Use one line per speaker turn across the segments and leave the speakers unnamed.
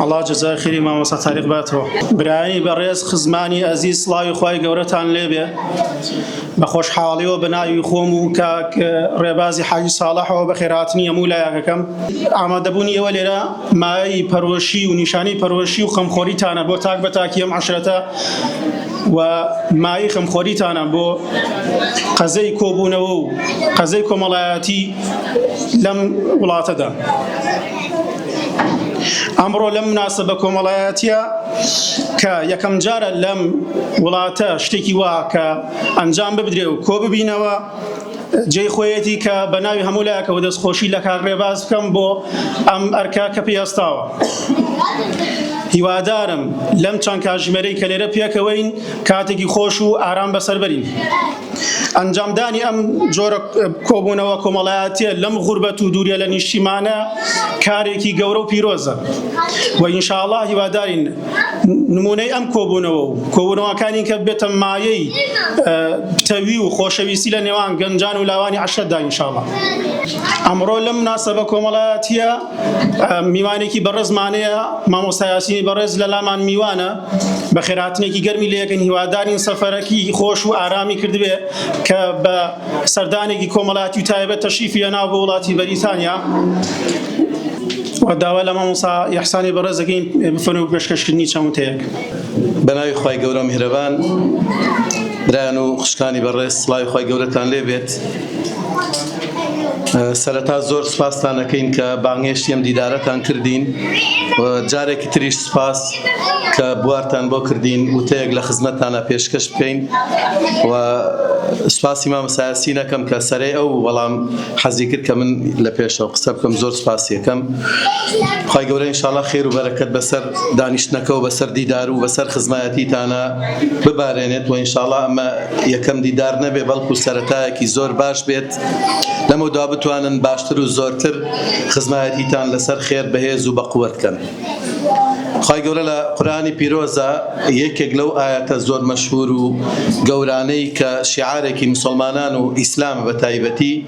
ئەڵا جەزای خیری مامۆسا تاریق باتەوە برایی بەڕێز خزمانی ئەزیز سڵاوی خی گەورەتان لێبێ بە خۆشحاڵیەوە بە ناوی خۆم و کاک ڕێبازی حاجی ساڵحەوە بە خێراتنی هەموو لایەکەکەم ئامادەبوونی ئێوە لێرە مایەی پەرۆشی و نیشانی پەرۆشی و خەمخۆریتانە بۆ تاک بە تاکیەم عشرەتە و مای خەمخۆریتانە بۆ قەزەی کۆبوونەوە و قەزەی کۆمەڵایەتی لەم وڵاتەدا. ئەمڕۆ لەم مناسبە کۆمەڵایەتە کە یەکەم جارە لەم وڵاتە شتێکی وا کە ئەنجام ببدرێ و کۆ ببینەوە جێ خۆیەتی کە بە ناوی هەموو لایەکەوە دەستخۆشی لە کاکڕێباز بکەم بۆ ئەم ئەرکە کە پێستاوە. هیوادارم لەم چەند کاژمێرەی کە لێرە پێکەوەین کاتێکی خۆش و ئارام بەسەربەرین. ئەنجامدانی ئەم جۆرە کۆبوونەوە کۆمەڵایەتە لەم غوربەت و دوورە لە نیشتیمانە کارێکی گەورە و پیرۆزە و ئینشاءله هیوادارین نمونەی ئەم کۆبوونەوە و کۆبوونەوەکانی کە بێتە مایەی پتەوی و خۆشەویستی لە نێوان گەنجان و لاوانی عشرەتدا ئینشاءله ئەمڕۆ لەم ناسەبە کۆمەڵایەتە میوانێکی بەڕێزمانەیە مامۆستا یاسینی بەڕێز لە لامان میوانە بە خێراتنێکی گەرمی لەکەن هیوادارین سەفەرەکی خۆش و ئارامی کردبێ کە بە سەردانێکی کۆمەڵاتی و تایبەت تەشیفی لە ناو بە وڵاتی بەریتانیا داوا لە مامۆسا یحسانی بەڕێزەکەین بفەن و پێشکەشکردنی چەمتەیەک بەناوی
خی گەورە میهرەبان برایان و خوشکانی بەڕێز سڵاوی خی گەورەتان لێبێت. سەرەتا زۆر سپاستان ئەکەین کە بانگێشتی ئەم دیدارەتان کردین و جارێکی تریش سپاس کە بوارتان بۆ کردین وتەیەک لە خزمەتتانە پێشکەش بکەین و سپاسی مامە سایاسی نەکەم کە سەرەی ئەو وەڵام حەزی کرد کە من لە پێشەوە قسە بکەم زۆر سپاسیەکەم خی گەورە انشاءله خێر و بەرەکەت بەسەر دانیشتنەکە و بەسەر دیدار و بەسەر خزمایەتیتانە ببارێنێت وە انشااللە ئەمە یەکەم دیدار نەبێت بەڵکو سەرەتایەکی زۆر باش بێت لەمەو دوا بتوانن باشتر و زۆرتر خزمایەتیتان لەسەر خێر بەهێز و بەقوەت بکەن خی گەورە لە قورانی پیرۆزە یەکێک لەو ئاەتە زۆر مەشهور و گەورانەی کە شیعارێکی مسلمانان و ئیسلام بە تایبەتی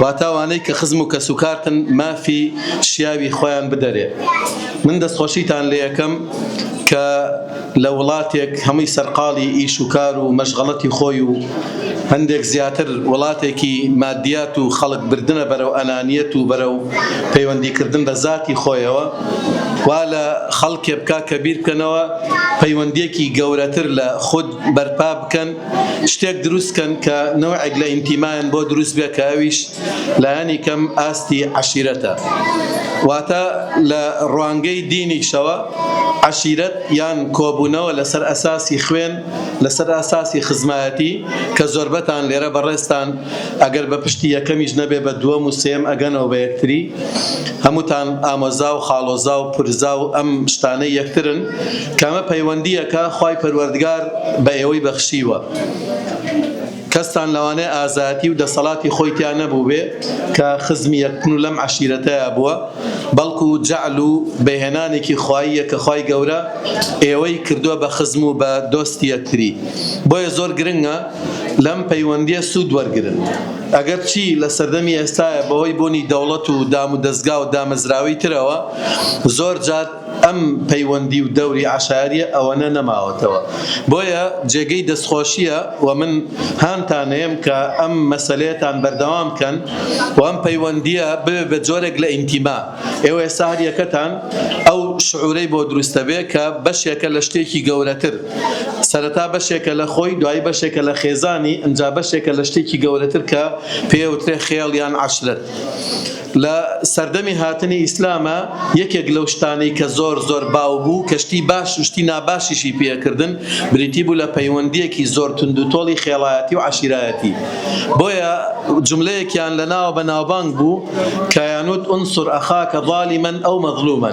واتا ئەوانەی کە خزم و کەس و کارتن مافی شیاوی خۆیان بدەرێ من دەستخۆشیتان لێەکەم کە لە وڵاتێک هەمووی سەرقاڵی ئیش و کار و مەشغەڵەتی خۆی و هەندێک زیاتر وڵاتێکی مادیات و خەڵک بردنە بەرەو ئەنانیەت و بەرەو پەیوەندیکردن بە زاتی خۆیەوە وا لە خەڵکێ بکا کە بیرکەنەوە پەیوەندیەکی گەورەتر لە خود بەرپا بکەن شتێک دروست کەن کە نەوعێک لە ئینتیمایان بۆ دروست بێ کە ئەویش لایەنی کەم ئاستی عەشیرەتە واتە لە ڕوانگەی دینیشەوە عەشیرەت یان کۆبوونەوە لەسەر ئەساسی خوێن لەسەر ئەساسی خزمایەتی کە زۆربەتان لێرە بەڕێزتان ئەگەر بە پشتی یەکەمیش نەبێ بە دووەم و سێم ئەگەنەوە بە یەکتری هەمووتان ئامۆزا و خاڵۆزا و پورزا و ئەم شتانەی یەکترن کامە پەیوەندییەکە خوای پەروەردگار بە ئێوەی بەخشیوە، کەستان لەوانەیە ئازایەتی و دەسەڵاتی خۆی تیا نەبووبێ کە خزمی یەک بن و لەم عەشیرەتەیا بووە، بەڵکو جەعل و بەهێنانێکی خواییە کە خوای گەورە ئێوەی کردووە بە خزم و بە دۆستی یەکتری، بۆیە زۆر گرنگە لەم پەیوەندییە سوود وەرگرن، ئەگەر چی لە سەردەمی ئێستایا بەهۆی بوونی دەوڵەت و دامودەزگا و دامەزراوەی ترەوە زۆر جار ئەم پەیوەندی و دەوری عەشایەریە ئەوەنە نەماوەتەوە بۆیە جێگەی دەستخۆشیە و من هانتانەیەم کە ئەم مەسەلەیەتان بەردەوام کەن و ئەم پەیوەندیە ببێ بە جۆرێک لە ئینتیما ئێوە ئێستا هەر یەکەتان ئەو شعورەی بۆ دروستەبێ کە بەشێکە لە شتێکی گەورەتر سەرەتا بەشێکە لە خۆی دوایی بەشێکە لە خێزانی ئنجا بەشێکە لە شتێکی گەورەتر کە پێوترێ خێڵ یان عەشرەت. لە سەردەمی هاتنی ئیسلامە یەکێک لەو شتانەی کە زۆر زۆر باو بوو کە شتی باش و شتی ناباشیشی پێ ئەکردن بریتی بوو لە پەیوەندیەکی زۆر توندوتۆڵی خێڵایەتی و عەشیرایەتی بۆیە جوملەیەکیان لە ناوە بە ناوبانگ بوو کە یانوت انصر اخاک ظالما او مظلوما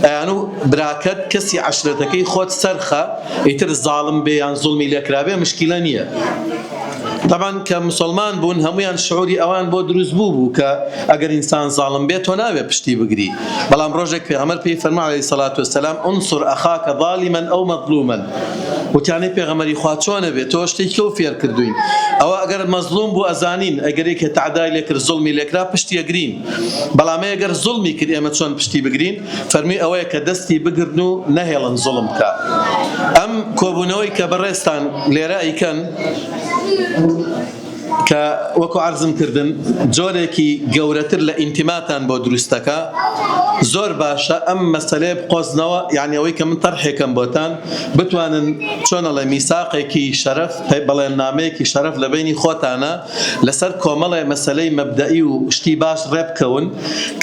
ئەیانو براکەت کەسی عەشرەتەکەی خۆت سەرخە ئیتر زاڵم بێ یان زوڵمی لێکرابێ مشکیلە نیە تەبعەن کە موسڵمان بوون هەموویان شعوری ئەوان بۆ دروست بوو بوو کە ئەگەر ئینسان زاڵم بێت تۆ ناوێ پشتی بگری بەڵام ڕۆژێک پێغەمبەر پێی فەرموو عەلەیهی سەڵات وسەلام انصر اخاک ظالما او مظلوما وتیانەی پێغەمبەری خوا چۆنە بێت تۆ شتێکی ئەو فێر کردوین ئەوە ئەگەر مەزلوم بوو ئەزانین ئەگەر یەکێ تەعدای لێکرد زوڵمی لێکرا پشتی ئەگرین بەڵام ئەگەر زوڵمی کرد ئێمە چۆن پشتی بگرین فەرمی ئەوەیە کە دەستی بگرن و نەهێڵن زوڵم بکا. ئەم کۆبوونەوەی کە بەڕێزتان لێرە ئەیکەن کە وەکو عەرزم کردن جۆرێکی گەورەتر لە ئینتیماتان بۆ دروست دەکا، زۆر باشە ئەم مەسەلەیە بقۆزنەوە، یانی ئەوەی کە من تەرحێ کەم بۆتان بتوانن چۆن ئەڵێ میساقێکی شەرەف، بەڵێننامەیەکی شەرەف لە بەینی خۆتانا، لەسەر کۆمەڵێ مەسەلەی مەبدەئی و شتی باش ڕێ بکەون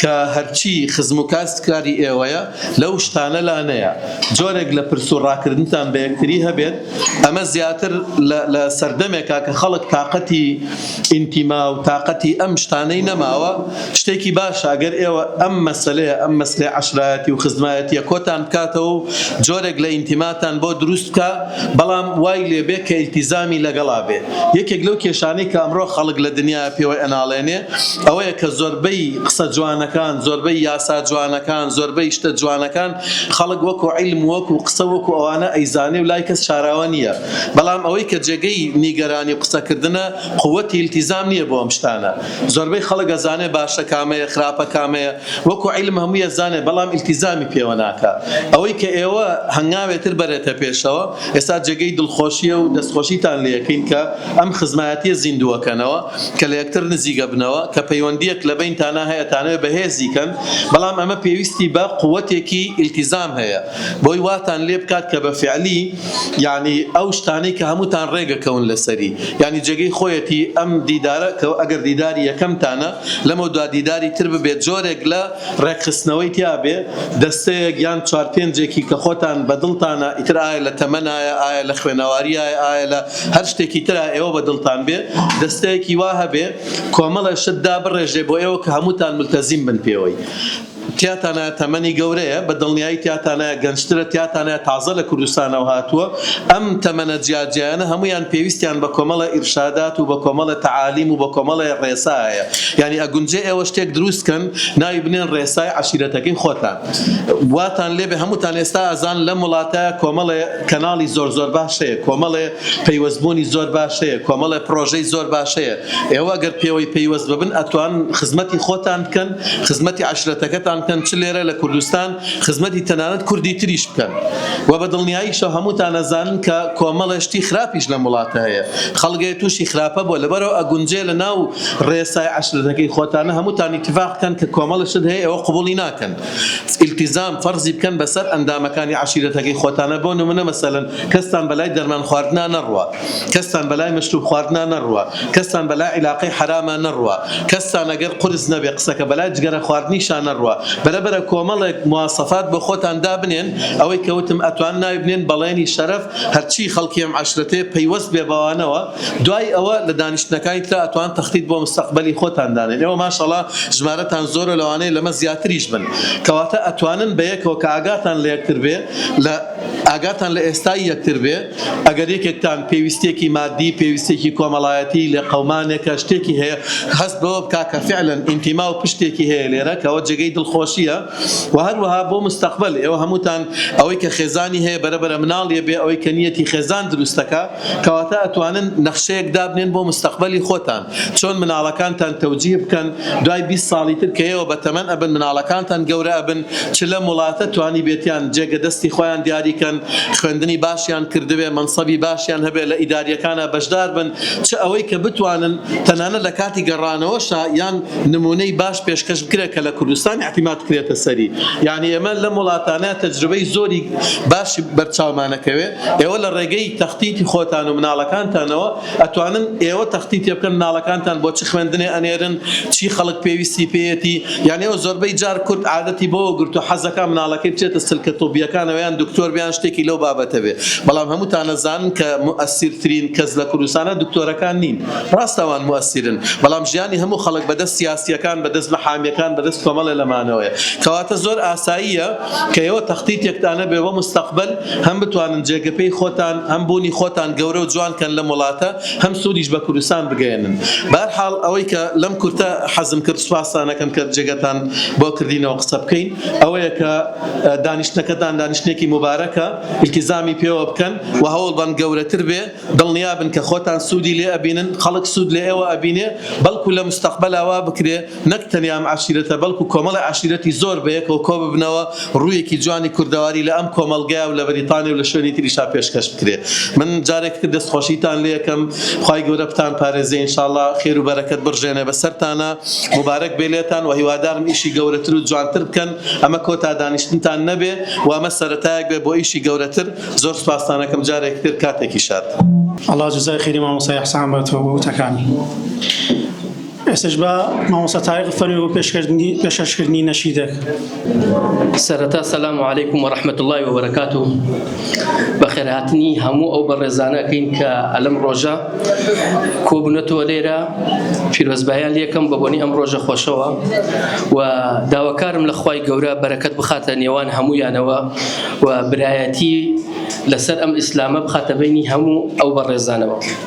کە هەرچی خزم و کاس کاری ئێوەیە لەو شتانە لا نەیە جۆرێک لە پرس و ڕاکردنتان بە یەکتری هەبێت ئەمە زیاتر لە لە سەردەمێکا کە خەڵک تاقەتی ئینتیما و تاقەتی ئەم شتانەی نەماوە شتێکی باشە گەر ئێوە ئەم مەسەلەیە ئەم مەسلەی عەشرایەتی و خزمایەتیە کۆتان بکاتەوە و جۆرێک لە ئینتیماتان بۆ دروست بکا بەڵام وای لێ بێ کە ئیلتیزامی لەگەڵا بێ. یەکێک لەو کێشانەی کە ئەمڕۆ خەڵک لە دنیایە پێوەی ئەناڵێنێ ئەوەیە کە زۆربەی قسە جوانەکان، زۆربەی یاسا جوانەکان، زۆربەی شتە جوانەکان خەڵک وەکو عیلم و وەکو قسە وەکو ئەوانە ئەیزانێ و لای کەس شاراوە نییە بەڵام ئەوەی کە جێگەی نیگەرانی و قسە کردنە قوتی التزام نییە بۆ ئەم شتانە زۆربەی خەڵک ئەزانێ باشە کامەیە خراپە کامەیە وەکو عیلم هەمووی یەزانێ بەڵام ئیلتیزامی پێوە ناکا ئەوەی کە ئێوە هەنگاوێ تر بەرێتە پێشەوە ئێستا جێگەی دڵخۆشیە و دەستخۆشیتان لێ ئەکەین کە ئەم خزمایەتیە زیندوو ئەکەنەوە کە لە یەکتر نزیک ئەبنەوە کە پەیوەندیەک لە بەینتانا هەیە ئەتانەوێ بەهێزی کەن بەڵام ئەمە پێویستی بە قوەتێکی ئیلتیزام هەیە بۆی واتان لێ بکات کە بە فعلی یەعنی ئەو شتانەی کە هەمووتان ڕێگەکەون لەسەری یەعنی جێگەی خۆیەتی ئەم دیدارە کە ئەگەر دیداری یەکەمتانە لەمەو دوا دیداری تر ببێت جۆرێک لە ڕێکخستنەوەی تیا بێ دەستەیەک یان چوار پێنجێکی کە خۆتان بە دڵتانە ئیتر ئایا لە تەمەنایە ئایا لە خوێنەواریایە ئایا لە هەر شتێکی ترا ئێوە بە دڵتان بێ دەستەیەکی وا هەبێ کۆمەڵێ شت دابڕێژێ بۆ ئێوە کە هەمووتان مولتەزیم بن پێوەی. تیاتانایە تەمەنی گەورەیە بە دڵنیایی تیاتانایە گەنجترە تیاتانایە تازە لە کوردستانەوە هاتووە ئەم تەمەنە جیا جیایانە هەموویان پێویستیان بە کۆمەڵە ئیرشادات و بە کۆمەڵە تەعالیم و بە کۆمەڵە ڕێسا هەیە یانی ئەگونجێ ئێوە شتێک دروست کەن ناوی بنێن ڕێسای عەشیرەتەکەی خۆتان واتان لێ بێ هەمووتان ئێستا ئەزان لەم وڵاتە کۆمەڵێ کەناڵی زۆر زۆر باش هەیە کۆمەڵێ پەیوەست بوونی زۆر باش هەیە کۆمەڵێ پڕۆژەی زۆر باش هەیە ئێوە گەر پێوەی پەیوەست ببن ئەتوان خزمەتی خۆتان بکەن خزمەتی عەشرەتەکەتان بکەن چ لێرە لە کوردستان خزمەتی تەنانەت کوردی تریش بکەن وە بە دڵنیاییشەوە هەمووتان ئەزانن کە کۆمەڵێ شتی خراپیش لەم وڵاتە هەیە خەڵگێ توشی خراپە بووە لەبەرئەوە ئەگونجێ لە ناو ڕێسای عەشرەتەکەی خۆتانا هەمووتان ئیتیفاق بکەن کە کۆمەڵێ شت هەیە ئێوە قبوڵی ناکەن ئیلتیزام فەرزی بکەن بەسەر ئەندامەکانی عەشیرەتەکەی خۆتانا بۆ نمونە مەسەلەن کەستان بەلای دەرمان خواردنا نەڕوا کەستان بەلای مەشروب خواردنا نەڕوا کەستان بەلا عیلاقەی حەراما نەڕوا کەستان ئەگەر قورس نەبێ قسەکە بەلای جگەرە خواردنیشا نەڕوا بەرەبەرە کۆمەڵێک مواسەفات بۆ خۆتان دابنێن ئەوەی کە وتم ئەتوان ناوی بنێن بەڵێنی شەرەف هەرچی خەڵکی ئەم عەشرەتەیە پەیوەست بێ بەوانەوە دوای ئەوە لە دانیشتنەکانی ترا ئەتوان تەختیت بۆ مستەقبەلی خۆتان دانێن ئێوە ماشەڵا ژمارەتان زۆرە لەوانەیە لەمە زیاتریش بن کەواتە ئەتوانن بەیەکەوە کە ئاگاتان لە یەکتر بێ لە ئاگاتان لە ئێستای یەکتر بێ ئەگەر یەکێکتان پێویستیەکی مادی، پێویستیەکی کۆمەڵایەتی، لێقەومانێکە، شتێکی هەیە، هەست بەوە بکا کە فعلەن ئینتیما و پشتێکی هەیە لێرە، کەوە جێگەی دڵخۆشیە و هەروەها بۆ مستەقبەل، ئێوە هەمووتان ئەوەی کە خێزانی هەیە بەرە بەرە مناڵی ئەبێ، ئەوەی کە نیەتی خێزان دروستەکا، کەواتە ئەتوانن نەخشەیەک دابنێن بۆ مستەقبەلی خۆتان. چۆن مناڵەکانتان تەوجیه بکەن دوای بیست ساڵی تر کە ئێوە بە تەمەن ئەبن مناڵەکانتان گەورە ئەبن چ لەم وڵاتە توانیبێتیان جێگە دەستی خۆیان دیاری کەن خوێندنی باشیان کردبێ مەنسەبی باشیان هەبێ لە ئیداریەکانا بەشدار بن چ ئەوەی کە بتوانن تەنانەت لە کاتی گەڕانەوەشا یان نمونەی باش پێشکەش بکرێ کە لە کوردستان ئیعتیماد کرێتە سەری یانی ئێمە لەم وڵاتانە تەجروبەی زۆری باشی بەرچاومانەکەوێ ئێوە لە ڕێگەی تەختیتی خۆتان و مناڵەکانتانەوە ئەتوانن ئێوە تەختی پێ بکەن مناڵەکانتان بۆ چ خوێندنێ ئەنێرن چی خەڵک پێویستی پێیەتی یان ئێوە زۆربەی جار کورد عادەتی بەوە گرتوە حەزەکا مناڵەکەی بچێتە سلکە طوبیەکانەوە یان دکتۆر بێ یان شتێکی لەو بابەتە بێ بەڵام هەمووتان ئەزانن کە موئەسیر ترین کەس لە کوردستانە دکتۆرەکان نین ڕاست ئەوان موئەسیرن بەڵام ژیانی هەموو خەڵک بەدەست سیاسیەکان بەدەست محامیەکان بەدەست کۆمەڵێ لەمانەوەیە کەواتە زۆر ئاساییە کەیەوە تەختیتێکتان هەبێ بۆ مستەقبەل هەم بتوانن جێگە پێی خۆتان هەم بوونی خۆتان گەورە و جوان کەن لەم وڵاتە هەم سوودیش بە کوردستان بگەیەنن بەهەر حاڵ ئەوەی کە لەم کورتە حەزم کرد سوپاستان ئەکەم کە جێگەتان بۆ کردینەوە قسە بکەین ئەوەیە کە دانیشتنەکەتان دانیشتنێکی موبارەکە ئیلتیزامی پێوە بکەن و هەوڵ بەن گەورەتر بێ دڵنیا بن کە خۆتان سوودی لێ ئەبینن خەڵک سوود لە ئێوە ئەبینێ بەڵکوو لە مستەقبەلا وا بکرێ نەک تەنیا ئەم عەشیرەتە بەڵکو کۆمەڵێ عەشیرەتی زۆر بەیەکەوە کۆببنەوە ڕوویەکی جوانی کوردەواری لە ئەم کۆمەڵگەیا و لە بەریتانیا و لە شوێنی تریشا پێشکەش بکرێ من جارێکی تر دەست خۆشیتان لێ ئەکەم خوای گەورە بتان پارێزێ ان شاء اللە خێر و بەرەکەت بڕژێنێ بەسەرتانا موبارەک بێ لێتان و هیوادارم ئیشی گەورەتر و جوانتر بکەن ئەمە کۆتا دانیشتنتان نەبێ و ئەمە سەرەتایەک بێ بۆ ئیشی گەورەتر زۆر سوپاستان ئەکەم جارێکی تر کاتێکی شاد. ئەڵا جەزای
خێری مامۆستا ئیحسان باتەوە بۆ وتەکانی. ئێستش بە مامۆستا تاریق فەرمی بۆ پێشکردنی پێشکردنی نەشیدەک
سەرەتا سەسلام و عیکم و رححمت اللهی و بەرەکات و بەخێرهاتنی هەموو ئەو بەڕێزانەکەین کە ئەلم ڕۆژە کۆبوونەتەوە لێرە پیرۆزبایان لەکەم بە بۆنی ئەم ڕۆژە خۆشەوە و داواکارم لە خی گەورە بەرەکەت بخاتە نێوان هەمویانەوە و برایەتی لەسەر ئەم ئیسلامە بخاتە بینی هەموو ئەو بەڕێزانەوە.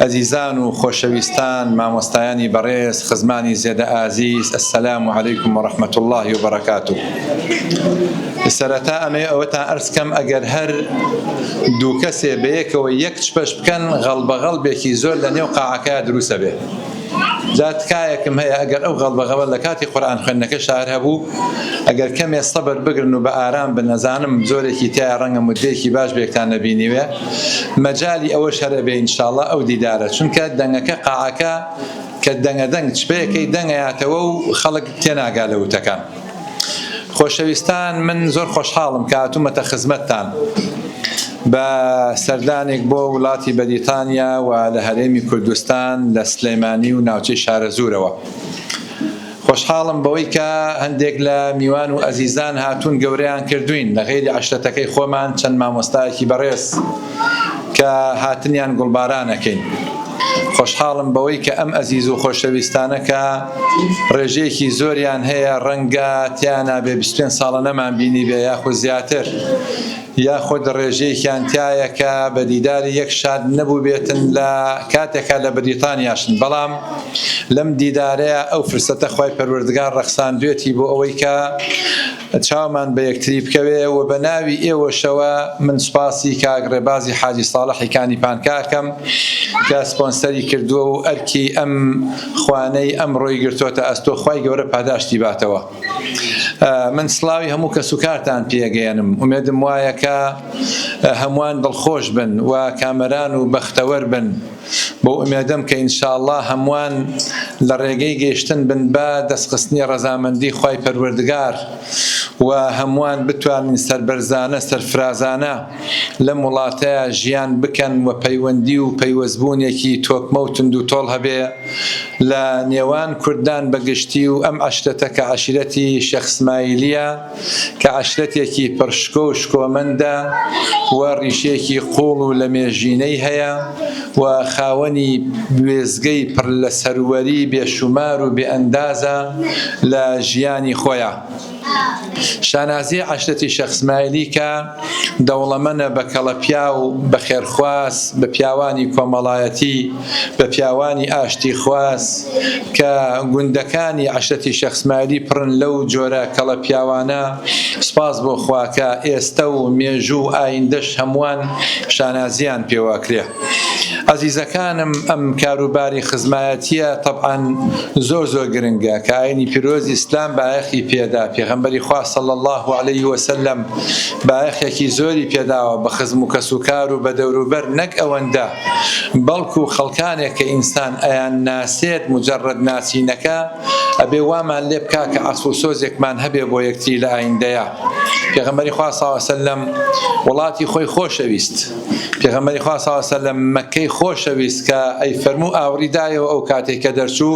ئەزیزان و خۆشەویستان مامۆستایانی بەڕێز خزمانی زێدە ئازیز السلام علیکم و رحمت الله و بەرەکاتو سەرەتا ئەمێ ئەوەتان ئەرسکەم ئەگەر هەر دوو کەسێ بەیەکەوە یەک چپەش بکەن غەڵبەغەڵبێکی زۆر لە نێو قاعەکە دروسە بێ جا تکایەکم هەیە ئەگەر ئەو غەڵبەغەڵە لەکاتی قورئان خوێندنەکەشدا هەر هەبوو ئەگەر کەمێ سەبر بگرن و بە ئارام بن ئەزانم زۆرێکی تیایە ڕەنگە موددەیەکی باش بەیەکتان نەبینیوێ مەجالی ئەوەش هەر ئەبێ انشاللە ئەو دیدارە چونکە دەنگەکە قاعەکە کە دەنگە دەنگ چپەیەکەی دەنگەیاتەوە و خەڵک تێناگا لە وتەکان. خۆشەویستان من زۆر خۆشحاڵم کە هاتوومەتە خزمەتتان بە سەردانێک بۆ وڵاتی بەریتانیا و لە هەرێمی کوردستان لە سلێمانی و ناوچەی شارەزوورەوە خۆشحاڵم بەوەی کە هەندێک لە میوان و ئەزیزان هاتوون گەورەیان کردوین لە غێری عشرەتەکەی خۆمان چەند مامۆستایەکی بەڕێز کە هاتنیان گوڵباران ئەکەین. خۆشحاڵم بەوەی کە ئەم ئەزیز و خۆشەویستانە کە ڕێژەیەکی زۆریان هەیە ڕەنگە تیانا بێ بیست و پێنج ساڵە نەمانبینیبێ یاخود زیاتر یاخود ڕێژەیەکیان تیایە کە بە دیداری یەک شاد نەبووبێتن لە کاتێکا لە بەریتانیاشن بەڵام لەم دیدارەیا ئەو فرسەتە خوای پەروەردگار ڕەخساندوێتی بۆ ئەوەی کە چاومان بە یەکتری بکەوێ و بە ناوی ئێوەشەوە من سوپاسی کاک ڕێبازی حاجی ساڵحی کانی پانکا ئەکەم کە سپۆنسەری کردووە و ئەرکی ئەم خوانەی ئەمڕۆی گرتۆتە ئەستۆ خوای گەورە پاداشتی باتەوە من سڵاوی هەموو کەس و کارتان پێگەیەنم ئومێدم وایە کە هەمووان دڵخۆش بن و کامەران و بەختەوەر بن بەو ئومێدەم کە ان شاءاللە هەمووان لە ڕێگەی گەیشتن بن بە دەستخستنی ڕەزامەندی خوای پەروەردگار و هەمووان بتوانن سەربەرزانە سەرفرازانە لەم وڵاتە ژیان بکەن و پەیوەندی و پەیوەستبوونێکی تۆکمە و توندوتۆڵ هەبێ لە نێوان کوردان بە گشتی و ئەم عەشرەتە کە عەشیرەتی شێخ سمایلیە کە عەشرەتێکی پڕ شکۆ و شکۆمەندە و ڕیشێکی قووڵ و لەمێژینەی هەیە و خاوەنی وێستگەی پڕ لە سەروەری بێشومار و بێئەندازە لە ژیانی خۆیا. شانازیی عەشرەتی شێخ سمایلی کە. دەوڵەمەنە بە کەڵەپیاو، بە خێرخواز، بە پیاوانی کۆمەڵایەتی، بە پیاوانی ئاشتیخواز، کە گوندەکانی عەشرەتی شێخ سمایلی پڕن لەو جۆرە کەڵە پیاوانە، سوپاس بۆ خوا کە ئێستە و مێژوو و ئایندەش هەمووان شانازییان پێوە ئەکرێ. ئەزیزەکانم ئەم کاروباری خزمایەتیە تەبعەن زۆر زۆر گرنگە کە ئاینی پیرۆز ئیسلام بایەخی پێدا پێغەمبەری خوا صلی الله علیه وسلم بایەخێکی زۆری پێداوە بە خزم و کەس و کار و بە دەوروبەر نەک ئەوەندە بەڵکو خەڵکانێک کە ئینسان ئەیان ناسێت مجرد ناسینەکە ئەبێ وامان لێ بکا کە عەسف و سۆزێکمان هەبێ بۆ یەکتری لە ئایندەیە پێغەمبەری خوا صلی الله علیه وسلم وڵاتی خۆی خۆشەویست پێغەمبەری خوا ساڵ سەلەم مەکەی خۆشەویست کە ئەی فەرموو ئاوڕی دایەوە ئەو کاتێک کە دەرچوو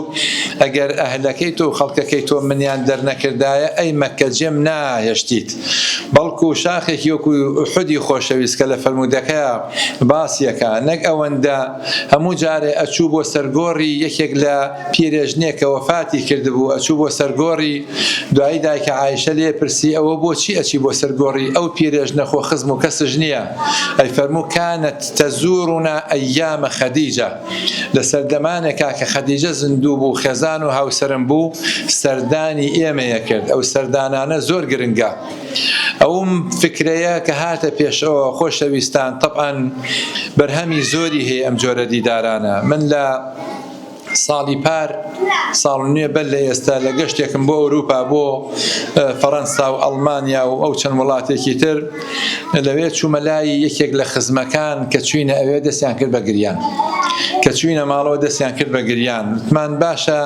ئەگەر ئەهلەکەی تۆ و خەڵکەکەی تۆ منیان دەرنەکردایە ئەی مەکە جێم ناهێشتیت بەڵکو شاخێکی وەکو حودی خۆشەویست کە لە فەرموودەکەیا باسیەکە نەک ئەوەندە هەموو جارێ ئەچوو بۆ سەرگۆڕی یەکێک لە پیرێژنێکە وەفاتی کردبوو ئەچوو بۆ سەرگۆڕی دوایی دایکە عایشە لێ پرسی، ئەوە بۆ چی ئەچی بۆ سەر گۆڕی ئەو پیرێژنە خۆ خزم و کەسش نییە؟ ئەی فەرموو، کانت تەزورنا ئەیام خەدیجە، لە سەردەمانێکا کە خەدیجە زیندوو بوو خێزان و هاوسەرم بوو سەردانی ئێمەی ئەکرد، ئەو سەردانانە زۆر گرنگە. ئەوم فکرەیە کە هاتە پێشەوە خۆشەویستان، تەبعەن بەرهەمی زۆری هەیە ئەم جۆرە دیدارانە، من لە. ساڵی پار ساڵ نوێ بەر لە ئێستا لە گەشتێکم بۆ ئەوروپا بۆ فەرەنسا و ئەڵمانیا و ئەو چەند وڵاتێکی تر لەوێ چوومە لای یەکێک لە خزمەکان کە چوینە ئەوێ دەستیان کرد بە گریان کە چوینە ماڵەوە دەستیان کرد بە گریان وتمان باشە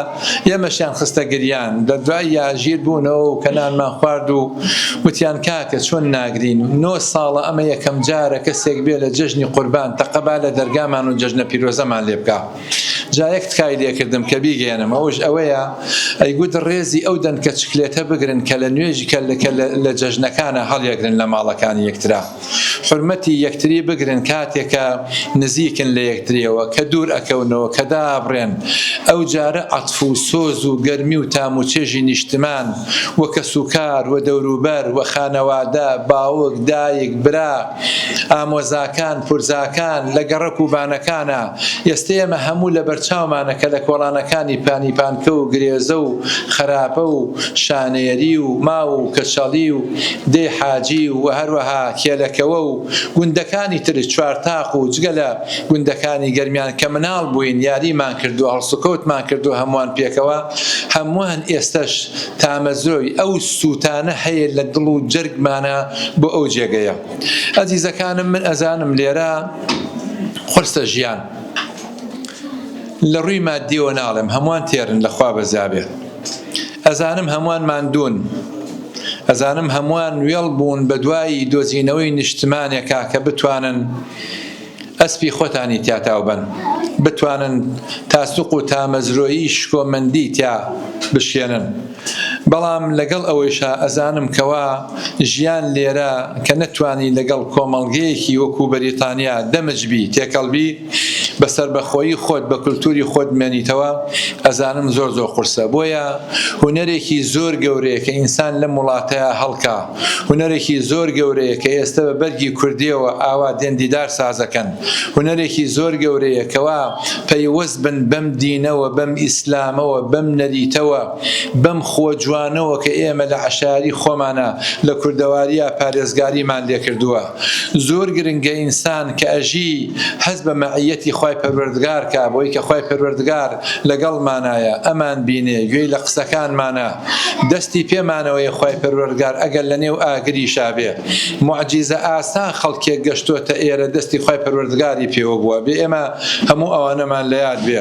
ئێمەشیان خستە گریان لە دوای یاژیر بوونەوە و کەنانمان خوارد و وتیان کاکە چۆن ناگرین نۆ ساڵە ئەمە یەکەم جارە کەسێک بێ لە جەژنی قوربان تەقەبا لە دەرگامان و جەژنە پیرۆزەمان لێ بکە جا یەک تکای لێکردم کە بیگەیەنم ئەوش ئەوەیە ئەی گوت ڕێزی ئەو دەنکە چکلێتە بگرن کە لە نوێژ کە لە جەژنەکانە هەڵیەگرن لە ماڵەکانی یەکترا حورمەتی یەکتری بگرن کاتێکە نزیکن لە یەکتریەوە کە دوور ئەکەونەوە کە دابڕێن ئەو جارە عەتف و سۆز و گەرمی و تام و چێژی نیشتمان و کەسوکار و دەوروبەر و خانەوادە باوک دایک برا ئامۆزاکان، پورزاکان، لە گەڕەک و بانەکانە، ئێستە ئێمە هەموو لەبەرچاومانە کە لە کۆڵانەکانی پانیپانکە و گرێزە و خەراپە و شانێری و ماو و کەچەڵی و دێی حاجی و و هەروەها کێلەکەوە و گوندەکانی تر چوارتاق و جگە لە گوندەکانی گەرمیان کە مناڵ بووین یاریمان کردووە هەڵسوکەوتمان کردووە هەمووان پێکەوە هەمووان ئێستەش تامەزرۆی ئەو سوتانە هەیە لە دڵ و جەرگمانە بۆ ئەو جێگەیە ئەزیزەکانم من ئەزانم لێرە قرسە ژیان لە ڕووی مادیەوە ناڵێم هەمووان تێرن لەخوا بەزیابێ ئەزانم هەمووان ماندون ئەزانم هەمووان وێڵ بوون بە دوایی دۆزینەوەی نیشتمانێکا کە بتوانن ئەسپی خۆتانی تیا تاو بەن بتوانن تاسوق و تامەزرۆیی شکۆمەندی تیا بشکێنن بەڵام لەگەڵ ئەوەیشا ئەزانم کەوا ژیان لێرە کە نەتوانی لەگەڵ کۆمەڵگەیەکی وەکو بەریتانیا دەمج بی تێکەڵ بی بە سەربەخۆیی خۆت بە کولتوری خۆت بمێنیتەوە ئەزانم زۆر زۆر قورسە بۆیە هونەرێکی زۆر گەورەیە کە ئینسان لەم وڵاتەیا هەڵکا هونەرێکی زۆر گەورەیە کە ئێستە بە بەرگی کوردیەوە ئاوا دێن دیدار سازەکەن هونەرێکی زۆر گەورەیە کەوا پەیوەست بن بەم دینەوە بەم ئیسلامەوە بەم نەریتەوە بەم خووە جوانەوە کە ئێمە لە عەشایەری خۆمانا لە کوردەواریا پارێزگاریمان لێکردووە. زۆر گرنگە ئینسان کە ئەژی هەست بە مەعیەتی خوای پەروەردگار کا بۆی کە خوای پەروەردگار لەگەڵمانایە ئەمان بینێ گوێی لە قسەکانمانە دەستی پێمانەوەیە خوای پەروەردگار ئەگەر لە نێو ئاگریشا بێ موعجیزە ئاسا خەڵکێک گەشتۆتە ئێرە دەستی خوای پەروەردگاری پێوە بووە بێ ئێمە هەموو ئەوانەمان لە یاد بێ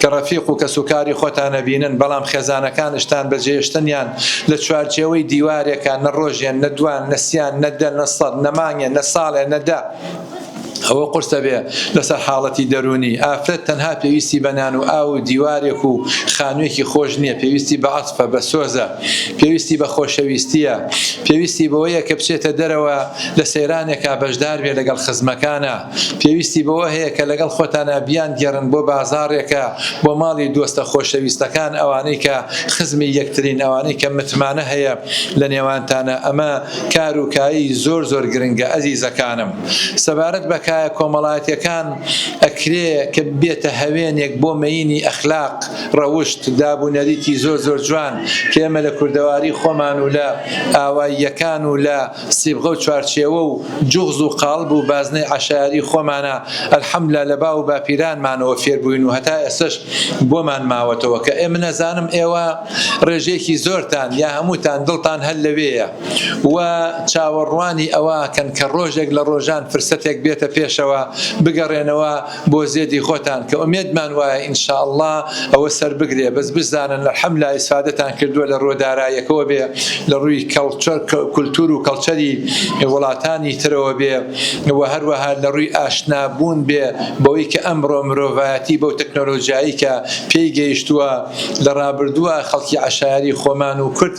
کە ڕەفیق و کەسوکاری خۆتان ئەبینن، بەڵام خێزانەکانشتان بە جێێشتنیان لە چوارچێوەی دیوارێکا نە ڕۆژێ نە دوان نە سیان نە دە نە سەد نە مانگێ نە ساڵێ نە دە ئەوە قورسە بێ لەسەر حاڵەتی دەروونی. ئافرەت تەنها پێویستی بە نان و ئاو و دیوارێک و خانوێکی خۆش نیە، پێویستی بە عەتفە، بە سۆزە، پێویستی بە خۆشەویستیە، پێویستی بەوەیە کە بچێتە دەرەوە لە سەیرانێکا بەشدار بێ لەگەڵ خزمەکانا. پێویستی بەوە هەیە کە لەگەڵ خۆتانا بیانگێڕن بۆ بازاڕێکە، بۆ ماڵی دۆستە خۆشەویستەکان، ئەوانەی کە خزمی یەکترین، ئەوانەی کە متمانە هەیە لە نێوانتانا، ئەمە کار و کایەی زۆر زۆر گرنگە ئەزیزەکانم. سەبارەت بە کایە کۆمەڵایەتیەکان ئەکرێ کە ببێتە هەوێنێک بۆ مەینی ئەخلاق، ڕەوشت، داب و نەریتی زۆر زۆر جوان کە ئێمە لە کوردەواری خۆمان و لە ئاواییەکان و لە سیبغە و چوارچێوە و جوغز و قاڵب و بازنەی عەشایەری خۆمانە، الحمدللە لە باو و باپیرانمانەوە فێر بووین و هەتا ئێستەش بۆمان ماوەتەوە کە ئێ منەزانم ئێوە ڕێژەیەکی زۆرتان یا هەمووتان دڵتان هەر لەوێیە و چاوەڕوانی ئەوە کەن کە ڕۆژێک لە ڕۆژان فرسەتێک بێتە پێشەوە بگەڕێنەوە بۆ زێدی خۆتان کە ئومێدمان وایە ان شاء اللە ئەوە سەربگرێ بەس بشزانن الحملا ئیسفادەتان کردووە لە ڕووە دارایەکەوە بێ لە ڕووی کولتور و کەڵچەری وڵاتانی ترەوە بێ و هەروەها لە ڕووی ئاشنابوون بێ بەوەی کە ئەمڕۆ مرۆڤایەتی بەو تەکنۆلۆژیایی کە پێی گەیشتووە لە ڕابردووە خەڵکی عەشایەری خۆمان و کورد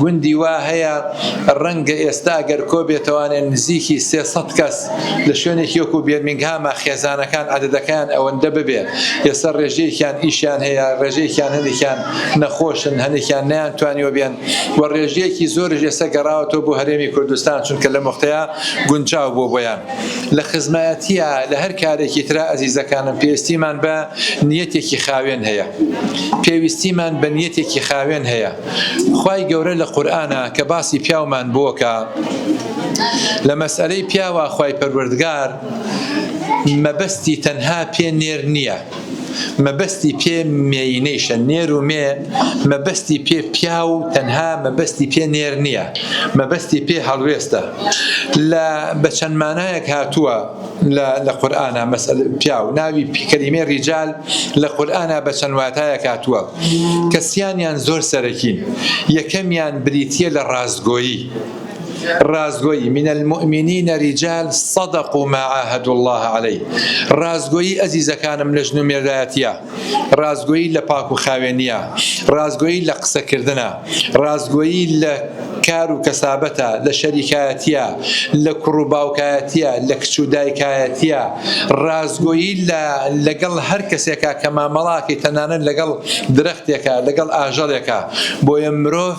گوندی وا هەیە ڕەنگە ئێستا ئەگەر کۆبێتەوانێ نزیکی سێ سەد کەس لە شوێنێکی وەکو بێرمینگهاما خێزانەکان عەدەدەکەیان ئەوەندە ببێ ئێستا ڕێژەیەکیان ئیشیان هەیە ڕێژەیەکیان هەندێکیان نەخۆشن هەندێکیان نەیانتوانیوە بێن و ڕێژەیەکی زۆرش ئێستا گەڕاوەتەوە بۆ هەرێمی کوردستان چونکە لەم وەختەیا گونجاو بووە بۆیان لە خزمایەتیە لە هەر کارێکی ترا ئەزیزەکانم پێویستیمان بە نیەتێکی خاوێن هەیە پێویستیمان بە نیەتێکی خاوێن هەیە. خوای گەورە لە قورئانا کە باسی پیاومان بۆکا لە مەسئەلەی پیاوا خوای پەروەردگار مەبەستی تەنها پێ نێر نییە مەبەستی پێ مێینەیشە نێر و مێ مەبەستی پێ پیا و تەنها مەبەستی پێ نێر نییە مەبەستی پێ هەڵوێستە لە بەچەندمانایەک هاتووە لە لە قورئانا مەسەل پیاو ناوی پی کەلیمەی ڕیجال لە قورئانا بە چەند واتایەک هاتووە کە سیانیان زۆر سەرەکین یەکەمیان بریتییە لە ڕاستگۆیی ڕاستگۆیی من المؤمنین ریجال صدقوا ما عاهدوا الله علیه ڕاستگۆیی ئەزیزەکانم لە ژن و مێردایەتیە ڕاستگۆیی لە پاک و خاوێنییە، ڕاستگۆیی لە قسەکردنە، ڕاستگۆیی لە کار و کەسابەتە، لە شەریکایەتییە، لە کوڕ و باوکایەتییە، لە کچ و دایکایەتییە، ڕاستگۆیی لە لەگەڵ هەر کەسێکە کە مامەڵە ئەکەیت، تەنانەت لەگەڵ درەختێکە، لەگەڵ ئاژەڵێکە. بۆیە مرۆڤ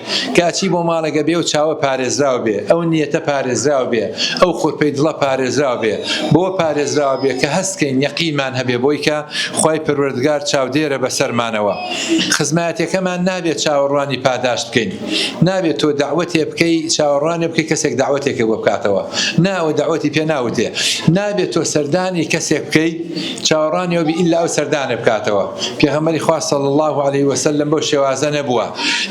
کە ئەچی بۆ ماڵێک ئەبێ ئەو چاوە پارێزراو بێ، ئەو نیەتە پارێزراو بێ، ئەو خورپەی دڵە پارێزراو بێ، بەوە پارێزراو بێ کە هەست کەین یەقینمان هەبێ بۆی کە خوای پەروەردگار چاودێرە بەسەرمانەوە. خزمایەتێکەمان نابێ چاوەڕوانی پاداشت بکەین. نابێ تۆ دەعوەتێ بکەی چاوەڕوانێ بکەی کەسێک دەعوەتێکێ بۆ بکاتەوە. نا ئەوە دەعوەتی پێ ناوتێ. نابێ تۆ سەردانی کەسێک بکەی. چاوەڕانیەوەبی ئیللا ئەو سەردانە بکاتەوە، پێغەمبەری خوا صلی اللە علیە وسلم بەو شێوازە نەبووە،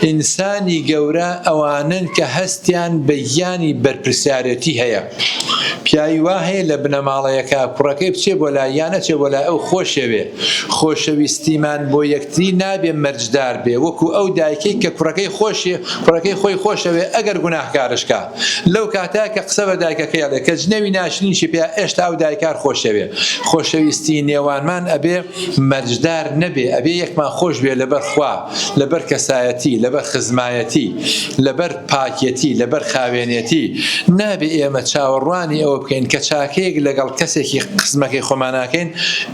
ئینسانی گەورە ئەوانەن کە هەستیان بە گیانی بەرپرسیارێتی هەیە، پیاوی وا هەیە لە بنەماڵەیەکە کوڕەکەی بچێ بۆ لای یان نەچێ بۆ لای ئەو خۆشەوێ، خۆشەویستیمان بۆ یەکتری نابێ مەرجدار بێ وەکو ئەو دایکەی کە کوڕەکەی خۆشی کوڕەکەی خۆی خۆشەوێ ئەگەر گوناهکارشکا. لەو کاتە کە قسە بە دایکەکەی ئەڵێ کە جنێوی ناشرینیشی پێ ئێشتا ئەو دایکار خۆشەوێ خۆشەویستی نێوانمان ئەبێ مەرجدار نەبێ ئەبێ یەکمان خۆش بێ لەبەر خوا لەبەر کەسایەتی لەبەر خزمایەتی لەبەر پاکێتی لەبەر خاوێنێتی نابێ ئێمە چاوەڕوانی ئەوە بکەین کە چاکەیەک لەگەڵ کەسێکی قسمەکەی خۆماناکەین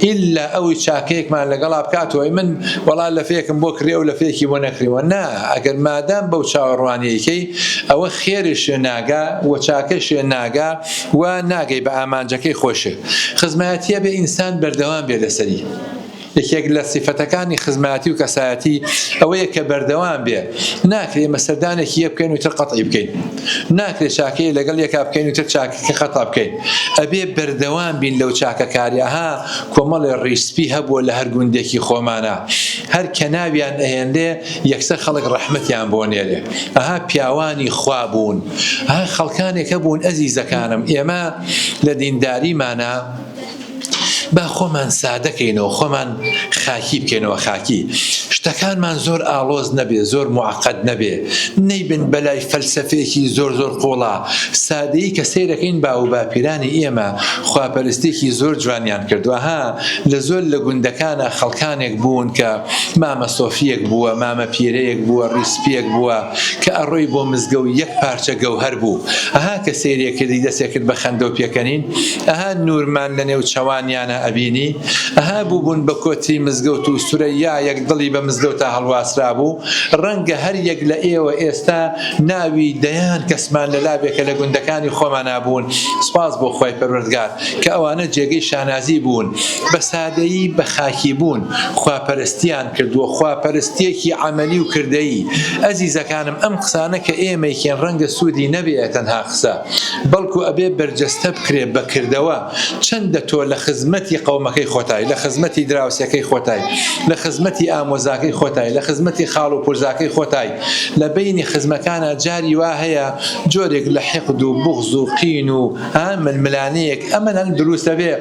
ئللا ئەوی چاکەیەکمان لەگەڵا بکاتەوەی من وەڵا لەفێکم بۆ کڕی ئەو لەفێکی بۆ نەکریوە نا ئەگەر مادام بەو چاوەڕوانیەکەی ئەوە خێرێ شێ ناگا و چاکە شێ ناگا و ناگەی بە ئامانجەکەی خۆشێ. خزمایەتیە بێ ئینسان بەردەوام بێ لەسەری. یەکێک لە سیفەتەکانی خزمایەتی و کەسایەتی ئەوەیە کە بەردەوام بێ. ناکرێ ئێمە سەردانێکی یەک بکەین و تر قەتعی بکەین. ناکرێ چاکەیە لەگەڵ یەکا بکەین و تر چاکەکە قەتع بکەین. ئەبێ بەردەوام بین لەو چاکە کاریە. ها کۆمەڵێ ڕیش سپی هەبووە لە هەر گوندێکی خۆمانا هەر کەناویان ئەهێنرێ، یەکسەر خەڵک ڕەحمەتیان بۆ نێرێ ئەها پیاوانی خوا بوون ها خەڵکانێک هەبوون ئەزیزەکانم ئێمە لە دینداریمانە با خۆمان سادەکەینەوە خۆمان خاکی بکەینەوە خاکی شتەکانمان زۆر ئاڵۆز نەبێ زۆر معقد نەبێ نەیبن بەلای فەلسفەیەکی زۆر زۆر قوڵا سادەیی کە سیرەکەین با و باپیرانی ئێمە خواپەرستێکی زۆر جوانیان کردووە ها لە زۆر لە گوندەکانە خەڵکانێک بوون کە مامە سۆفییەک بووە، مامە پیرەیەک بووە، ڕیسپییەک بووە، کە ئەڕۆی بۆ مزگەوت یەک پارچە گەوهەر بوو، ئەها کە سەیرێ کردی دەسێ کرد بە خەندە و پێکەنین، ئەها نوورمان لە نێو چەوانیانا ئەبینی، ئەها بووبوون بە کۆتری مزگەوت و سورەیایەک دڵی بە مزگەوتا هەڵواسرابوو، ڕەنگە هەر یەک لە ئێوە ئێستا ناوی دەیان کەسمان لە لابێ کە لە گوندەکانی خۆمانا بوون، سوپاس بۆ خوای پەروەردگار کە ئەوانە جێگەی شانازی بوون، بە ئامادەیی بە خاکیبوون، خواپەرستیان کردووە، خواپەرستییەکی عەمەلی و کردەیی. ئەزیزەکانم ئەم قسانە کە ئێمەیکەین ڕەنگە سوودی نەبێ تەنها قسە، بەڵکو ئەبێ بەرجەستە بکرێ بە کردەوە. چەندە تۆ لە خزمەتی قەومەکەی خۆتای، لە خزمەتی دراوسێکەی خۆتای، لە خزمەتی ئامۆزاکەی خۆتای، لە خزمەتی خاڵ و پورزاکەی خۆتای. لە بەینی خزمەکانا جاری وا هەیە جۆرێک لە حیقد و بوغز و قین و. ها ململانێیەک ئەمەن هەن دروستە بێ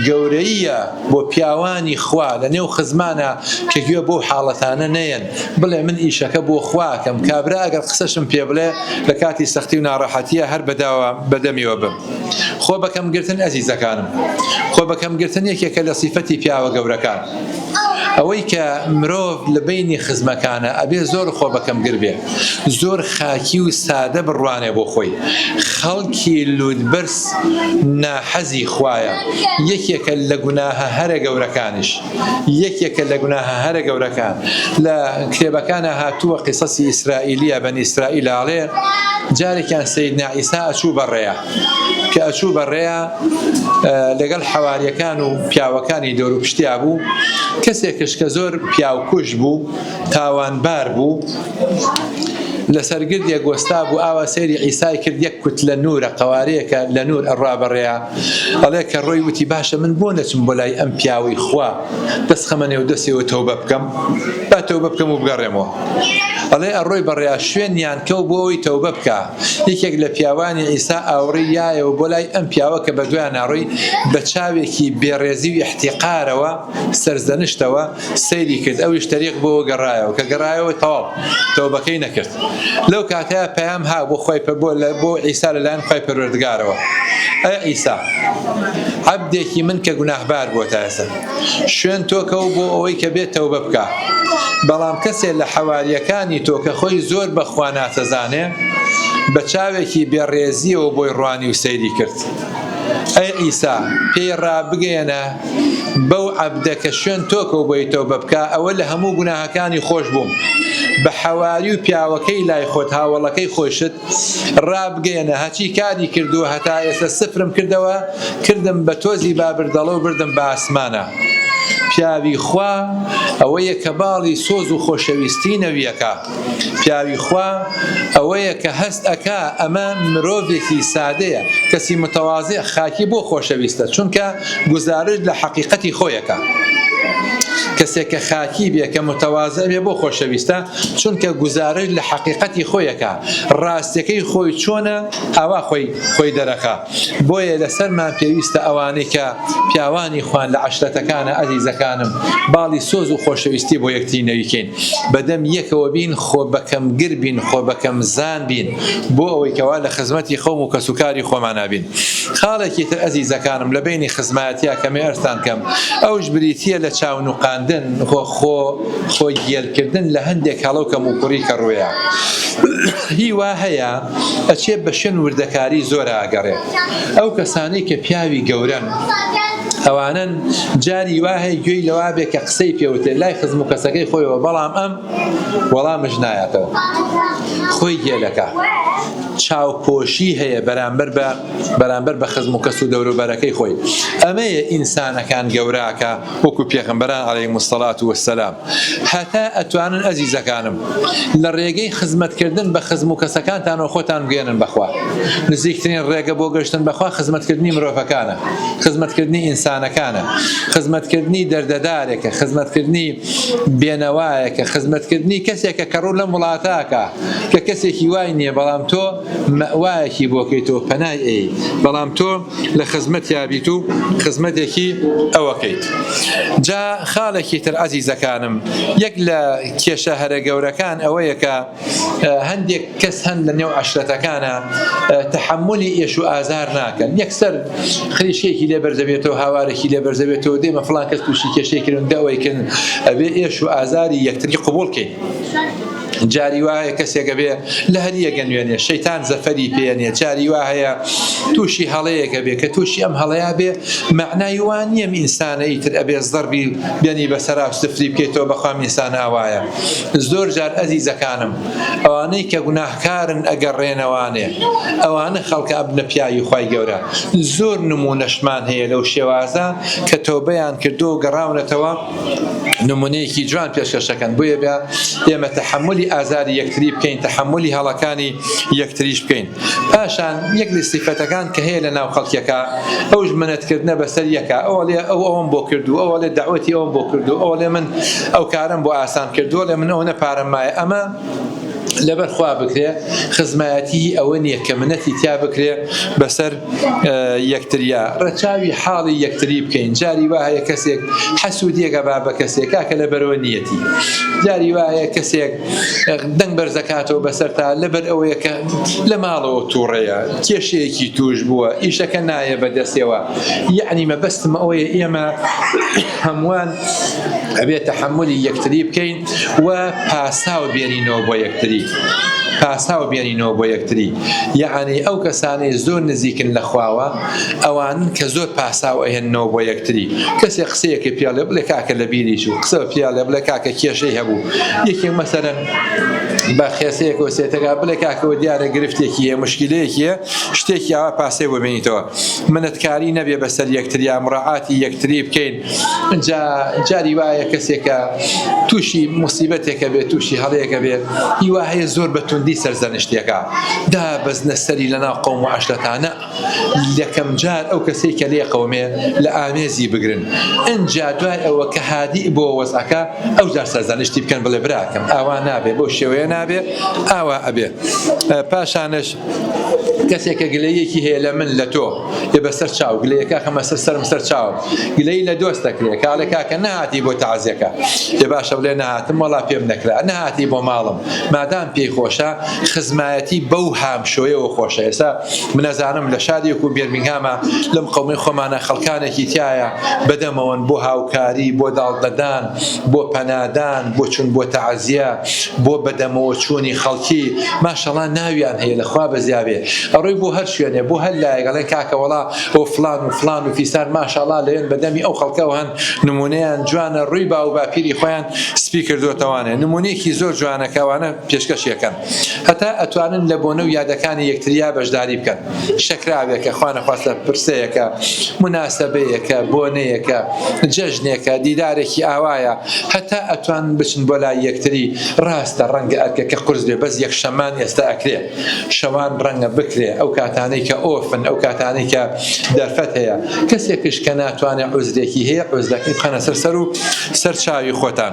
گەورەییە بۆ پیاوانی خوا لە نێو خزمانە کە گوێ بۆ حاڵەتانە نەیەن بڵێ من ئیشەکە بۆ خواکەم کابرا ئەگەر قسەشم پێ بڵێ لە کاتی سەختی و ناڕەحەتیە هەر بەداوە بەدەمیەوە بم خۆ بەکەم گرتن ئەزیزەکانم خۆ بەکەم گرتن یەکێکە لە سیفەتی پیاوە گەورەکان ئەوەی کە مرۆڤ لە بەینی خزمەکانا ئەبێ زۆر خۆ بە کەم گر بێ زۆر خاکی و سادە بڕوانێ بۆ خۆی خەڵکی لوتبەرز ناحەزی خوایە یەکێکە لە گوناهە هەرە گەورەکانیش یەکێکە لە گوناهە هەرە گەورەکان لە کتێبەکانا هاتووە قیسەسی ئیسرائیلیە بەنی ئیسرائیل ئەڵێ جارێکیان سەیدنا عیسا ئەچوو بەڕێ کە ئەچوو بە ڕێیا لەگەڵ حەواریەکان و پیاوەکانی دەور و پشتیا بوو کەسێکش کە زۆر پیاوکوش بوو تاوانبار بوو لەسەر گردێک گۆستا بوو ئاوا سەیری ئیسای کرد یەک کوت لە نورە قوارەیەکە لە نور ئەڕا بەڕێیا ئەڵێ کە ڕۆی وتی باشە من بۆ نەچم بۆ لای ئەم پیاوەی خوا دەست خەمە نێو دەستەوە تەوبە بکەم با تەوبە بکەم و بگەڕێمەوە ئەڵێ ئەڕۆی بەڕێیا شوێنیان کەو بۆ ئەوی تەوبە بکە یەکێک لە پیاوانی عیسا ئاوڕی یایەوە بۆ لای ئەم پیاوە کە بەدوایان ناڕۆی، بە چاوێکی بێڕێزی و ئیحتیقارەوە، سەرزەنشتەوە، سەیری کرد، ئەویش تەریق بۆوە گەڕایەوە، کە گەڕایەوە تەواو تەوبەکەی نەکرد. لەو کاتەیا پەیام هات بۆ خوای بۆ عیسا لە لایەن خوای پەروەردگارەوە، ئەی عیسا، عەبدێکی من کە گوناهبار بووە تا ئێستا. شوێن تۆکە و بۆ ئەوەی کە بێت تەوبە بکا بەڵام کەسێ لە حەواریەکانی تۆ کە خۆی زۆر بە خوا ناسەزانێ بە چاوێکی بێ ڕێزیەوە بۆی ڕوانی و سەیری کرد ئەی عیسا پێی ڕابگەیەنە بەو عەبدە کە شوێن تۆکە و بۆی تەوبە بکا ئەوە لە هەموو گوناهەکانی خۆش بووم بە حەواری و پیاوەکەی لای خۆت هاوەڵەکەی خۆشت ڕابگەیەنە هەچی کاری کردووە هەتا ئێستا سفرم کردەوە کردم بە تۆزی با بردەڵە و بردم بە ئاسمانا پیاوی خوا ئەوەیە کە باڵی سۆز و خۆشەویستی نەویەکە پیاوی خوا ئەوەیە کە هەست ئەکا ئەمە مرۆڤێکی سادەیە کەسی متەوازێ خاکی بۆ خۆشەویستە چونکە گوزارش لە حەقیقەتی خۆیەکە کەسێک کە خاکی بێ کە متەوازە بێ بۆ خۆشەویستە چونکە گوزارش لە حەقیقەتی خۆی ئەکا، ڕاستیەکەی خۆی چۆنە ئاوا خۆی خۆی دەرەخا، بۆیە لەسەرمان پێویستە ئەوانەی کە پیاوانی خوان لە عەشرەتەکانە ئەزیزەکانم باڵی سۆز و خۆشەویستی بۆ یەکتری نەویکەین بەدەم یەکەوە بین خۆ بەکەم گر بین خۆ بەکەم زان بین بۆ ئەوەی کەوا لە خزمەتی خەوم و کەس و کاری خۆمانا بین خاڵێکی تر ئەزیزەکانم لە بەینی خزمایەتیا کەمێ ئەرزتان کەم ئەوش بریتیە لە چاو نوقاندن و خۆ خۆگێلکردن لە هەندێک هەڵە و کەموکوڕی کە ڕوێا هی وا هەیە ئەچێ بە شوێن وردەکاری زۆرا ئەگەڕێ ئەو کەسانەی کە پیاوی گەورەن ئەوانن جاری وا هەیە گوێی لەوا بێ کە قسەی پێوتێ لای خزم و کەسەکەی خۆیەوە بەڵام ئەم وەڵامش نایاتەوە خۆی گێلەکە چاوپۆشی هەیە بەرامبەر بە بەرامبەر بە خزم و کەس و دەوروبەرەکەی خۆی ئەمەیە ئینسانەکان گەوراکە وەکو پێغەمبەران علیهم الصلوة و السلام هەتا ئەتوانن ئەزیزەکانم لە ڕێگەی خزمەت کردن بە خزم و کەسەکانتانەوە خۆتان بگەیەنن بە خوا نزیکترین ڕێگە بۆ گەشتن بە خوا خزمەت کردنی مرۆڤەکانە خزمەت کردنی ئینسانەکانە خزمەت کردنی دەردەدارێکە خزمەت کردنی بێنەوایەکە خزمەت کردنی کەسێکە کە ڕوو لەم وڵاتاکە کە کەسێکی وای نییە بەڵام تۆ مەوایەکی بۆکەیتەوە پەنای ئەی بەڵام تۆ لە خزمەتیا بیت و خزمەتێکی ئەوەکەیت جا خاڵێکی تر عزیزەکانم یەک لە کێشە هەرە گەورەکان ئەوەیە کە هەندێک کەس هەند لە نێو عشرەتەکانە تحملی ئێش و ئازار ناکەن یەکسەر خریشێکی لێ بەرزەبێتەوە هاوارێکی لێ بەرزەبێتەوە دێمە فلان کەس تووشی کێشێکردن دەوەیکن ئەبێ ئێش و ئازاری یەکتری قوبولکەین جاری وا هەیە کەسێکە بێ لە هەریەکە نوێنێ شەیتان زەفەری پێنێ جاری وا هەیە تووشی هەڵەیەکە بێ کە تووشی ئەم هەڵەیە بێ معنای وان نییە ئینسانە ئیتر ئەبێ زەربی بێنی بەسەرا سفری بکەیتەوە بەخوام ئینسان ئاوایە زۆر جار ئەزیزەکانم ئەوانەی کە گوناهکارن ئەگەر ڕێنەوانێ ئەوانە خەڵکە ئەبنە پیاوی خی گەورە زۆر نمونەشمان هەیە لەو شێوازە کە تۆبیان کردو گەڕاونەتەوە نمونەیەکی جوان پێشکەش دەکەن بۆیە بە ئێمە تەحملی ئازاری یەکتری بکەین تەحملی هەڵەکانی یەکتریش بکەین پاشان یەک لە سیفەتەکان کە هەیە لە ناو خەڵکیەکە ئەوش منەتکردە بەسەر یەکە ئەوە لێ ئەو ئەوم بۆ کردو ئەوە لێ داوەتی ئەوم بۆ کردو ئەوە لێ من ئەو کارم بۆ ئاسان کردووە لە من ئەو نە پارەم مایە ئەمە لەبەر خوا بکرێ خزمایەتی ئەوە نییە کە منەتی تیا بکرێ بەسەر یەکتریا ڕەچاوی حاڵی یەکتری بکەین جاری وا هەیە کەسێک حەسوودیەکە با بە کەسێک کاکە لە بەرەوە نیەتی جاری وایە کەسێک دەنگ بەرزەکاتەوە بەسەر تا لەبەر ئەوەیە کە لە ماڵەوە تووڕەیە کێشەیەکی توش بووە ئیشەکە نایە بەدەستەوە یعنی مەبەستمە ئەوەیە ئێمە هەمووان ئەبێ تەحەمولی یەکتری بکەین و پاساو بێنینەوە بۆ یەکتری پاساو بێنینەوە بۆ یەکتری یعنی ئەو کەسانی زۆر نزیکن لە خواوە ئەوان کە زۆر پاساو ئەهێنەوە بۆ یەکتری کەسێک قسەیەکی پیاڵێ بڵێ کاکە لە بیری چوو قسە پیاڵێ بڵێ کاکە کێشەی هەبوو یەکێک مەسەرەن بە خێسەیەکەوە سێتەکە بڵێ کاکەوە دیارە گرفتێکی هەیە مشکلەیەکیە شتێکی ئاوا پاسێ بۆ بێنیتەوە منەتکاری نەبێ بەسەر یەکتریا مڕاعاتی یەکتری بکەین جا جاری وایە کەسێکە تووشی موسیبەتێکە بێت تووشی هەڵەیەکە بێت هیوا هەیە زۆر بە توندی سەرزەنشتێکە دا بەزنە سەری لە ناو قەوم و عەشرەتانە یەکەم جار ئەو کەسەی کە لێ قەومێ لە ئامێزی بگرن ئنجا دوای ئەوە کە هادی بۆ وەزعەکە ئەو جار سەرزەنشتی بکەن بڵێ براکەم ئاوا نابێ بەو شێوەیە نابێ ئاوا ئەبێ پاشانش کەسێک کە گلەییەکی هەیە لە من لە تۆ لێ بەسەر چاو گلەیەکە خەمە سەر سەرم سەر چاوم گلەی لە دۆست دەکرێ کاڵێ کاکە نەهاتی بۆ تەعزیەکە لێ باشە بڵێ نەهاتم وەڵا پێم نەکرا نەهاتی بۆ ماڵم مادام پێی خۆشە خزمایەتی بەو هامشۆیەوە خۆشە ئێستا منەزانم لە شارێک و بێرمینگهامە لەم قەومەی خۆمانە خەڵکانێکی تایە بەدەمەوەن بۆ هاوکاری بۆ داڵدەدان بۆ پەنادان، بۆ چون بۆ تەعزیە، بۆ بەدەمەوە چونی خەڵکی، ماشەڵا ناویان هەیە لە خوا بەزیابێ ئەڕۆی بۆ هەر شوێنێ بۆ هەر لایەک ئەڵێن کاکە وەڵا ئەوە فڵان و فڵان و فیسار ماشاڵا لەوێن بەدەمی ئەو خەڵکەوە هەن نمونەیان جوانە ڕوی باوو باپیری خۆیان سپی کردۆتەوانێ نمونەیەکی زۆر جوانە کە ئەوانە پێشکەشی ئەکەن. هەتا ئەتوانن لە بۆنە و یادەکانی یەکتریا بەشداری بکەن، شەکراوێکە، خوانەخواستە پرسەیەکە، موناسەبەیەکە، بۆنەیەکە، جەژنێکە، دیدارێکی ئاوایە، هەتا ئەتوانن بچن بۆ لای یەکتری، ڕاستە ڕەنگە ئەرکەکە قورس بێ بەس یەکشەممان ئێستا ئەکرێ، شەوان ڕەنگە بکرێ ئەو کاتانەی کە ئۆفن ئەو کاتانەی کە دەرفەت هەیە، کەسێکش کە ناتوانێ عوزرێکی هەیە عوزرەکەی بخەنە سەر سەر و سەر چاوی خۆتان.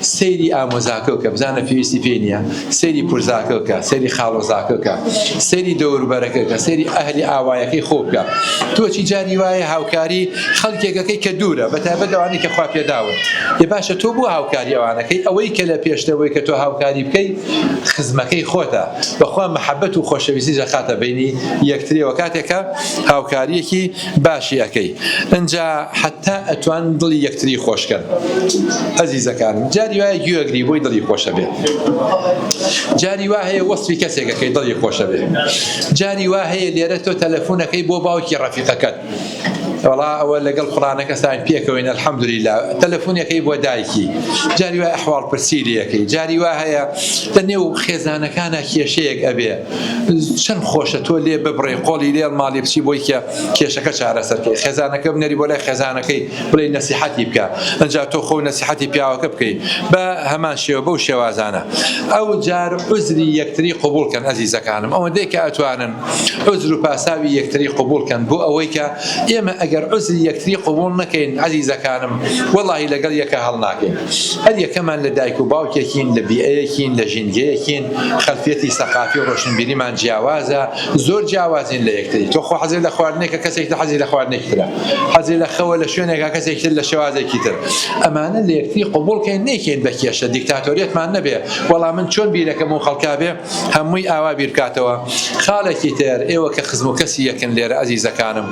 سەیری ئامۆزاکە بکە بزانە پێویستی پێی نییە سەیری پرزاکە بکە سەیری خاڵۆزاکە بکە سەیری دەوربەرەکە بکە سەیری ئەهلی ئاوایەکەی خۆ بکە تۆچی جاری وایە هاوکاری خەڵکێکەکەی کە دوورە بە تایبەت ئەوانەی کە خوا پێداون ێ باشە تۆ بۆ هاوکاری ئەوانەکەی ئەوەی کە لە پێشتەوەی کە تۆ هاوکاری بکەی خزمەکەی خۆتە بەخوا محەبەت و خۆشەویستی دەخاتە بینی یەکترەوە کاتێکە هاوکاریەکی باشی ئەکەی ئنجا حەتا ئەتوان دڵی یەکتری خۆش کەن ئەزیزەکانم جاری وایە گوێ ئەگری بۆی دڵی خۆش ئەبێ جاری وا هەیە وەسفی کەسێک ئەکەی دڵی خۆش ئەبێ جاری وا هەیە لێرە تۆ تەلەفون ئەکەی بۆ باوکی ڕەفیقەکەت وەڵا ئەوە لەگەڵ کوڕانەکە ساین پێکەوەین الحەمدللە تەلەفونەکەی بۆ دایکی جاری وای ئەحواڵ پرسی لەکەی جاری وا هەیە لە نێو خێزانەکانە کێشەیەک ئەبێ چەن خۆشە تۆ لێ ببڕێ قۆڵی لێڵ ماڵی بچی بۆی کە کێشەکە چارەسەر کەی خێزانەکە بنێری بۆ لای خێزانەکەی بڵێ نەسیحەتی بکە ئەجا تۆ خۆ نەسیحەتی پیاوەکە بکەی بە هەمان شێوە بەو شێوازانە ئەو جار عزری یەکتری قوبولکەن ئەزیزەکانم ئەوەندەی کە ئەتوانن عزر و پاساوی یەکتری قوبولکەن بۆ ئەوەی کە ئێمە ئەگەر عزری یەکتری قوبول نەکەین عزیزەکانم وەڵی لەگەڵ یەکە هەڵناکەین هەر یەکەمان لە دایک و باوکێکین لە بیئەیەکین لە ژینگەیەکین خەلفیەتی سەقافی و ڕۆشنبیریمان جیاوازە زۆر جیاوازین لە یەکتری تۆ خۆ حەزت لە خواردنێکە کەسێکی تر حەزی لە خواردنێکی ترە حەزی لە خەوە لە شوێنێکا کەسێکی تر لە شێوازێکی تر ئەمانە لە یەکتری قبوڵ کەین نەیکەین بە کێشە دیکتاتۆریەتمان نەبێ وەڵا من چۆن بیرەکەم و خەڵکا بێ هەمووی ئاوا بیر بکاتەوە خاڵێکی تر ئێوە کە خزم و کەسی یەکن لێرە ئەزیزەکانم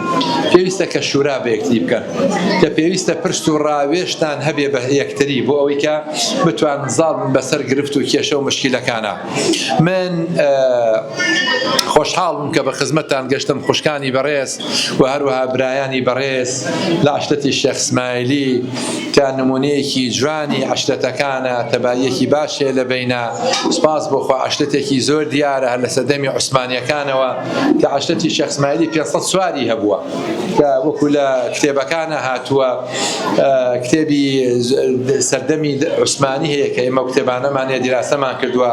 پێویستە کە شورا بە یەکتری بکەن کە پێویستە پرس و ڕاوێژتان هەبێ بە یەکتری بۆ ئەوەی کە بتوانن زاڵ بن بەسەر گرفت و کێشە و مشکیلەکانا من خۆشحاڵم کە بە خزمەتتان گەشتم خوشکانی بەڕێز و هەروەها برایانی بەڕێز لە عەشرەتی شێخ سمایلی کە نمونەیەکی جوانی عەشرەتەکانە تەباییەکی باش هەیە لە بەینا سپاس بۆ خوا عەشرەتێکی زۆر دیارە هەر لە سەردەمی عوسمانیەکانەوە کە عەشرەتی شێخ سمایلی پێنج سەد سواری هەبووە کە وەکو لە کتێبەکانا هاتووە کتێبی سەردەمی عوسمانی هەیە کە ئێمە کتێبانەمان هەیە دیراسەمان کردووە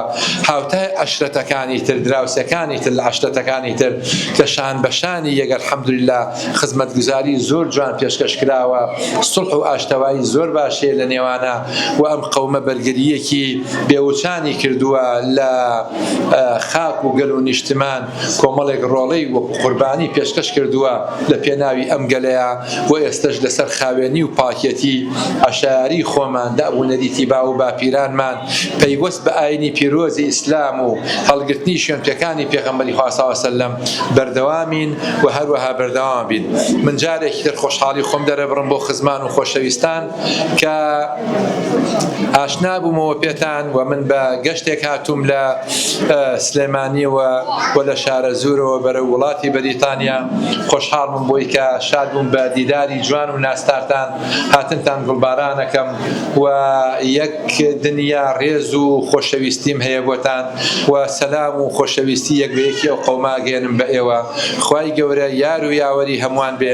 هاوتای عەشرەتەکانی تر دراوسەکانی تر لە عەشرەتەکانی تر کە شان بە شانی یەک الحمدللە خزمەتگوزاری زۆر جوان پێشکەش کراوە سوڵح و ئاشتەوایی زۆر باش هەیە لە نێوانە و ئەم قەومە بەرگرییەکی بێوچانی کردووە لە خاک و گەل و نیشتمان کۆمەڵێک ڕۆڵەی وەکو قوربانی پێشکەش کردووە لە پێناوی ئەم گەلەیا و ئێستەش لەسەر خاوێنی و پاکێتی عەشایەری خۆمان داب و نەریتی باو و باپیرانمان پەیوەست بە ئاینی پیرۆزی ئیسلام و هەڵگرتنی شوێنپێکانی پێغەمبەری خوا صلی اللە وسلم بەردەوامین و هەروەها بەردەوامەبین من جارێکی تر خۆشحاڵی خۆم دەرەبڕم بۆ خزمان و خۆشەویستان کە ئاشنا بوومەوە پێتان و من بە گەشتێک هاتووم لە سلێمانیەوە و لە شارە زورەوە بەرە وڵاتی بەریتانیا خۆشحاڵ بووم بۆی کە شاد بووم بە دیداری جوان و ناستارتان هاتنتان گوڵبارانەکەم و یەک دنیا ڕێز و خۆشەویستیم هەیە بۆتان و سەلام و خۆشەویستی یەک بە یەکی ئەو قەومە ئەگەیەنم بە ئێوە خوای گەورە یار و یاوەری هەمووان بێ